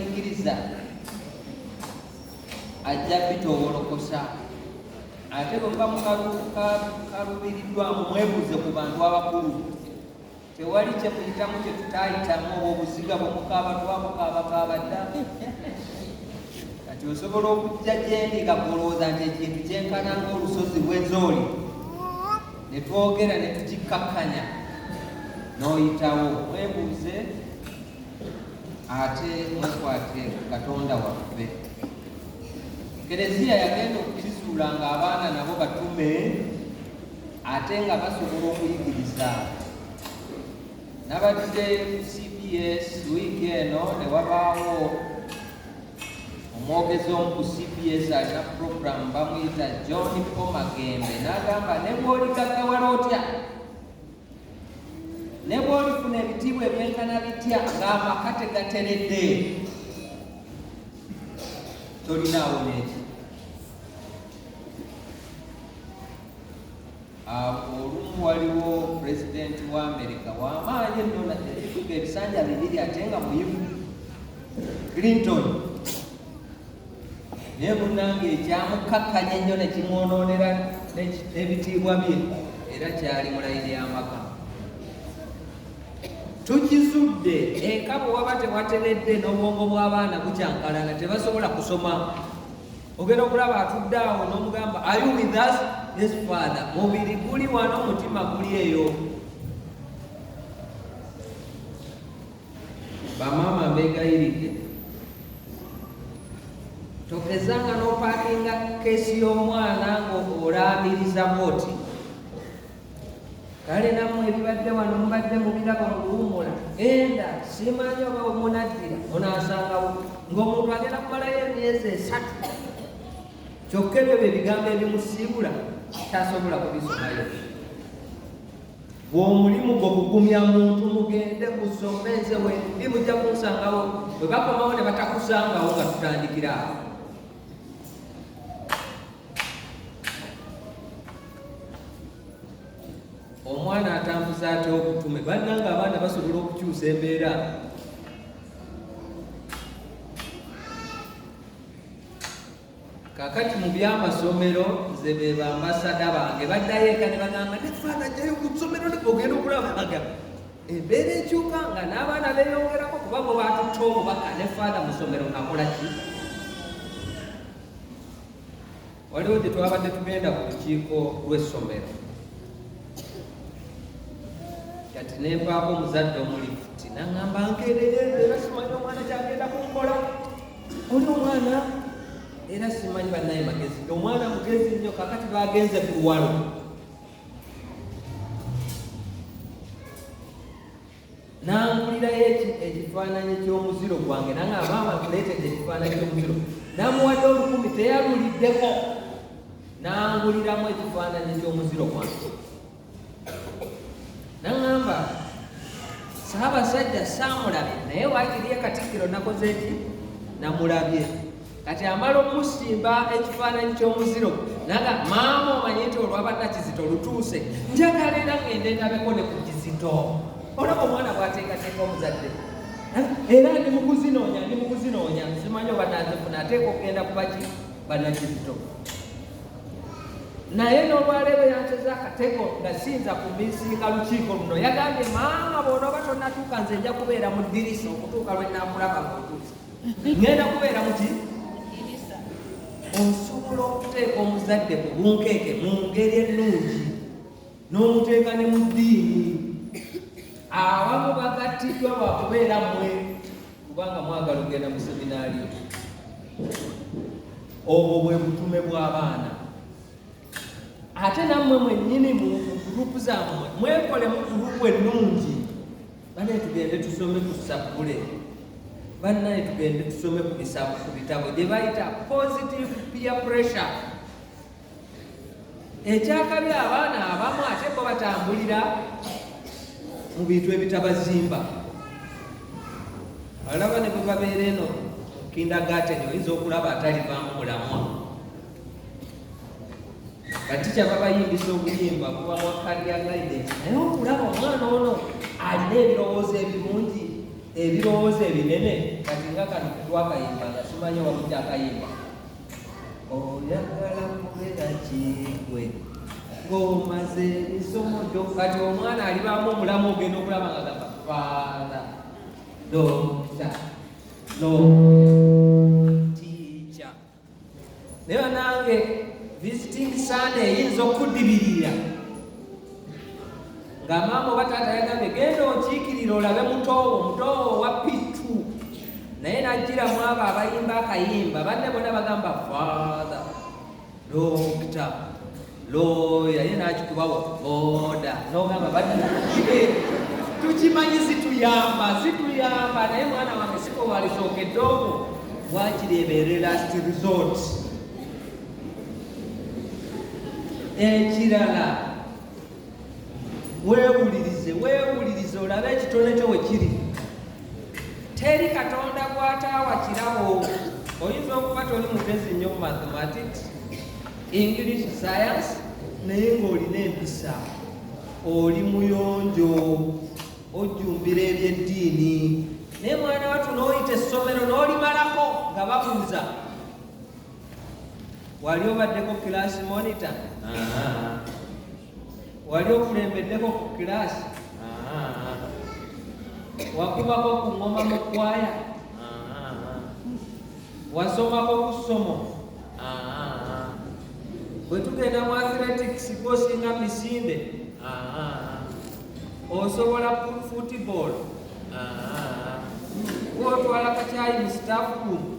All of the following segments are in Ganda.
Ingiriza ajja bitowolokosa ate bwe muba mukaluubiriddwamu mwebuuze ku bantu abakulu tewali kyemuyitamu kyetutaayitamu obwo obuziga bwe mukaaba twabukaabakaaba dda kati osobola okujja gyendi nga gwolowooza nti ekintu kyenkana ngaolusozi lwezooli ne twogera ne tukikkakkanya n'oyitawo mwebuuze ate mwekwate katonda waffe kereziya yagenda okukizuula nga abaana nabo batume ate nga basobola okuyigiriza nabadde cbs wiiki eno ne wabaawo omwogezi omu ku cbs alina puroguramu bamuyita john pomagembe n'agamba ne bw'oligagawala otya ne bw'olifuna ebitiibwa ebyenkana bitya ng'amaka tegateredde tolinaawo n'ekyo olumu waliwo pulezidenti wa amerika wamaanyi enno ebifuga ebisanja bibiri ate nga muyivu clinton naye munnange ekyamukkakkanya ennyo ne kimwonoonera ebitiibwa bye era kyali mulayini y'amaka tukizudde eka bwe waba tewateredde n'obwongo bw'abaana bukyankalana tebasobola kusoma ogenda okulaba atudde awo n'omugamba ayu with us this father mubiri guli wano omutima guli eyo Bamaama mbeegayiridde tokezanga n'opakinga keesi y'omwana ng'olaamiriza bwoti kale nammwe ebibadde wano mubadde mubiraba mu kuwummula enda simanyi oba omunaddira onaasangawo ng'omuntu agenda kumalayo emyezi esatu kyokka ebyo bye bigambo ebimusiibula tasobola kubisomayo bw'omulimu gwo kugumya muntu mugende musome nze wendi mujja kunsangawo bwe bakomawo ne batakusangawo nga tutandikira awo omwana atambuza atya obutume bannanga abaana basobola okukyusa embeera kakati mu byamasomero nze be bambasada bange baddayo eka ne bagamba ne faana jayo ku ssomero ogenda okulabaga embeera ekyuka nga n'abaana beeyongerako kuba bwe batutta obubaka ne faana mu ssomero akola ki waliwo gye twabadde tugenda ku lukiiko lw'essomero kati ne mpaako omuzadde omulifuti naŋamba nkeereyerera simanyi omwana kyagenda ku nkola oli omwana era simanyi banaye magezi omwana mugezi nnyo kakati bagenze ku luwalo nangulirayo ekifaananyi ky'omuziro gwange nanga maama nkuleetedde ekifaananyi ky'omuziro namuwadde olukumi teyaluliddeko nanguliramu ekifaananyi ky'omuziro gwange naŋamba saabasajja saamulabye naye waakiriye katikkiro nakoze ki namulabye kati amala okumusimba ekifaananyi ky'omuziro naga maama omanye nti olwabadda kizito lutuuse njagala era ngende ndabeko ne ku kizito olaba omwana bwateekateeka omuzadde era ndi mukuzinoonya ndi mukuzinoonya simanyi oba nazifuna ateeka okugenda kubaki banakizito naye n'olwaleero yansoza akatego nga siyinza kumisinga lukiiko luno yagambye maama bona oba tonatuuka nze nja kubeera mu ddirisa okutuuka lwe nakulaba mutuusa ngenda kubeera muki osobola okuteeka omuzadde mu bunkeeke mu ngeri ennungi n'omuteeka ne mu ddiini abamu bagattiddwa lwa kubeera mwe kubanga mwagala okugenda mu seminaali obwo bwe butume bw'abaana ate nammwe mwennyini mu gurupu zammwe mwekolemu gurupu ennungi bane tugende tusome ku sabbule bannaye tugende tusome ku bitabo gye bayita positive peer pressure ekyakabi abaana abamu ate bo batambulira mu bintu ebitabazimba alaba ne bwebabeera eno kindagaten oyinza okulaba atalivamu mulamwa kati kyababayimbisa obuyimba kuba wakalya guidance naye okulaba omwana ono alina ebirowoozo ebirungi ebirowoozo ebinene kati nga kano twakayimba nga simanyi wamudde akayimba oyagala kubera kigwe ng'omaze ebisomo gyo kati omwana alibaamu omulamu ogenda okulaba nga gamba faala dokita no tiica naye banange visiting sande eyinza okudibirira nga maama oba taata yagambye genda okiikirira olabe mutoowo mutoowo owa pitu naye najjira mu abo abayimba akayimba banne bona bagamba father dokita looya ye nakikubawo boda nogamba ba tukimanyi zituyamba zituyamba naye mwana wange sikowalisookedde omu wakiri ebeere last resort ekirala weewulirize weewulirize olabe ekitone kyo we kiri teri katonda gwataawa kirabo oyinza okuba toli mugezi nnyo mu mathematics english science naye ng'olina empisa oli muyonjo ojjumbira ebyeddiini naye mwana watu n'oyita essomero n'olimalako nga babuuza wali obaddeko kilaasi monita wali okulembeddeko ku kilaasi wakubako ku ngoma mu kwaya wasomako ku ssomo bwe tugenda mu athletics gosinga misinde osobola football wotwala kakyayi mu staff room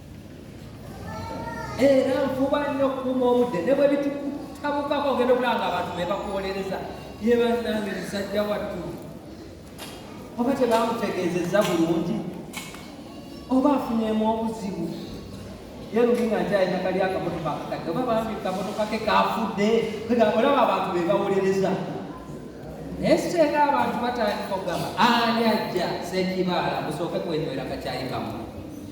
era nfuba nnyo okukuuma obudde ne bwe bitutabukako ogenda okulaba nga abantu be bakuwolereza ye bannange musajja wattu oba tebamutegeezezza bulungi oba afunyemu obuzibu ye luli nga nkyalina kali akamotoka akakadde oba bambi kamotoka ke kafudde olaba abantu be bawolereza naye siteeka abantu batandika okugamba ani ajja sekibaala musooke kwenywera kakyayi kamu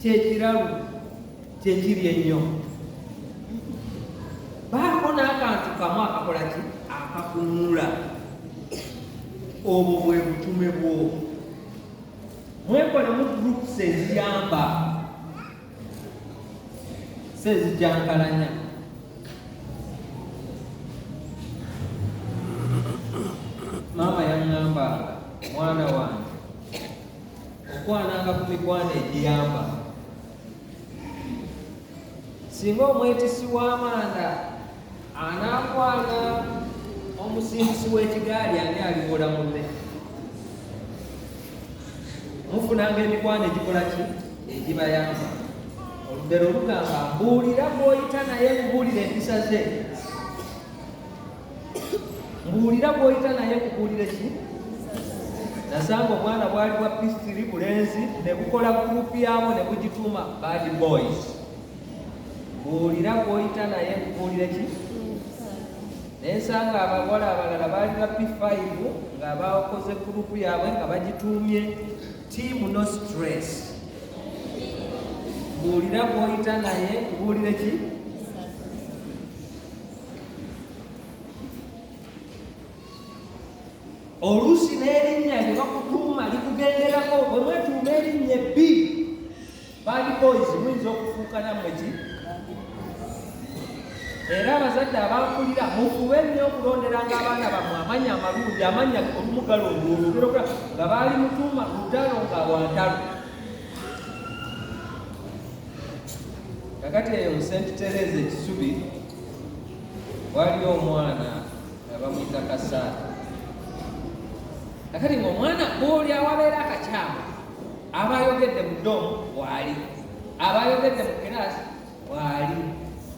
kyekiralu kyekiri ennyo baako n'akantu kamu akakola ki akakunula obwo bwe butume bwo mwekolemu groups eziyamba si ezijankalanya maama yaŋŋambanga mwana wange okwananga ku mikwano egiyamba singa omwetisi w'amanda anaakwana omusimbisi w'ekigaali ani aliwola munne mufunanga emikwano egikola ki egibayamba olugero olugamba mbuulira gwoyita naye mubuulire empisa ze mbuulira bw'oyita naye kubuulire ki nasanga obwana bwali bwa pistiri bulenzi ne bukola gurupu yaabwo ne bugituuma bad boys mbuulira bw'oyita naye kubuulire ki naye nsanga abawala abalala baali ba p5 nga bakoze gurupu yaabwe nga bagituumye tiimu no stress mbuulira bw'oyita naye kubuulire ki oluusi n'erinnya lye bakutuuma likugenderako bwe mwetuuma erinnya ebbi bad boys muyinza okufuuka nammwe ki era abazadde abakulira mufube nnyo okulonderanga abaana bammwe amanya amalungi amanya olumugalo olwolugera nga baali mutuuma lutalo nga lwantalo kakati eyo st tereza ekisubi waliyo omwana nga bamuyita kasaala akati ngaomwana oli awabeera akakyama aba ayogedde mu domu waali aba ayogedde mu kiraasi waali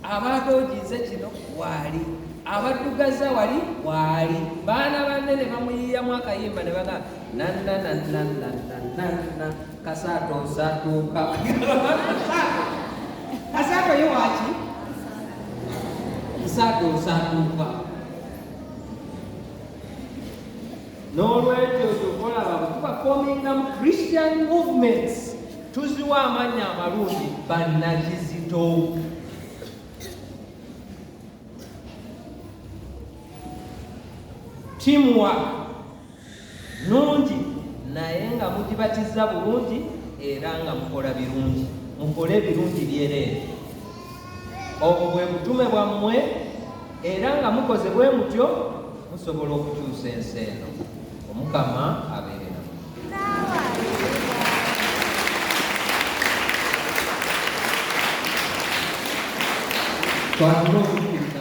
aba atooginze kino waali abaddugaza wali waali baana banne ne bamuyiyamu akayimba ne bagamba nananananananana Kasato satuka. Kasato yo wachi? Kasato satuka. N'olwekyo kyokola baba tuba forming um Christian movements tuziwa amanya amalungi bannakizito teamwork nnungi naye nga mugibatizza bulungi era nga mukola birungi mukole ebirungi byereere obwo bwe butume bwammwe era nga mukoze bwe mutyo musobola okukyusa ensi eno omukama abeere namu